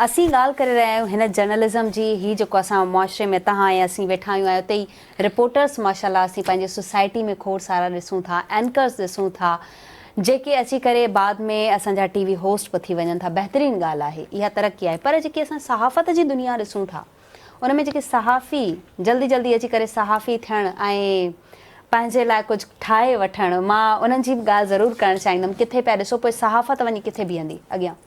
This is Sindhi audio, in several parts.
اسين ڳالهه ڪري رهيا آهيون هن جرنلزم جي هي جيڪو اسان معاشري ۾ تهان ۽ اسين ويٺا آهيون ۽ اتي ئي رپورٽرس ماشاءالله اسين پنهنجي سوسائٽي ۾ کوڙ سارا ڏسون ٿا اينڪرس ڏسون ٿا جيڪي اچي ڪري بعد ۾ اسان جا ٽي وي هوسٽ به ٿي وڃن ٿا بهترين ڳالهه آهي اها ترقي آهي پر جيڪي اسان صحافت جي دنيا ڏسون ٿا ان ۾ جيڪي صحافي جلدي جلدي اچي ڪري صحافي ٿيڻ ۽ پنهنجي لاء ڪجهه ٺاهي وٺڻ مان انهن جي به ڳالهه ضرور ڪرڻ چاهيندم ڪٿي پيا ڏسو پوء صحافت وڃي ڪٿي بيهندي اڳيان.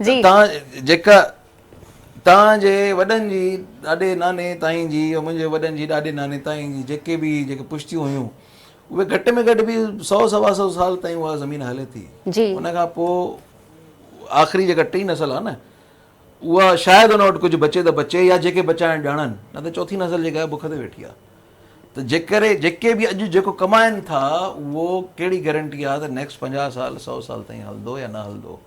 جي. تان جيڪا تان جي وڏن جي ڏاڏي ناني تائين جي يا منهنجي وڏن جي ڏاڏي ناني تائين جي جيڪي به جيڪي پشتيون هيون اهي گهٽ ۾ گهٽ به سؤ سوا سؤ سال تائين اها زمين هلي ٿي جي. ان کان پوء آخري جيڪا ٽي نسل آهي نه اها شايد ان وٽ ڪجهه بچي ته بچي يا جيڪي بچائڻ ڄاڻن نه ته چوٿين نسل جيڪا آهي بک تي ويٺي آهي ته جيڪر جيڪي به اڄ جيڪو ڪمائن ٿا اهو ڪهڙي گيرنٽي آهي ته نيڪسٽ پنجاهه سال سؤ سال تائين هلندو يا نه هلندو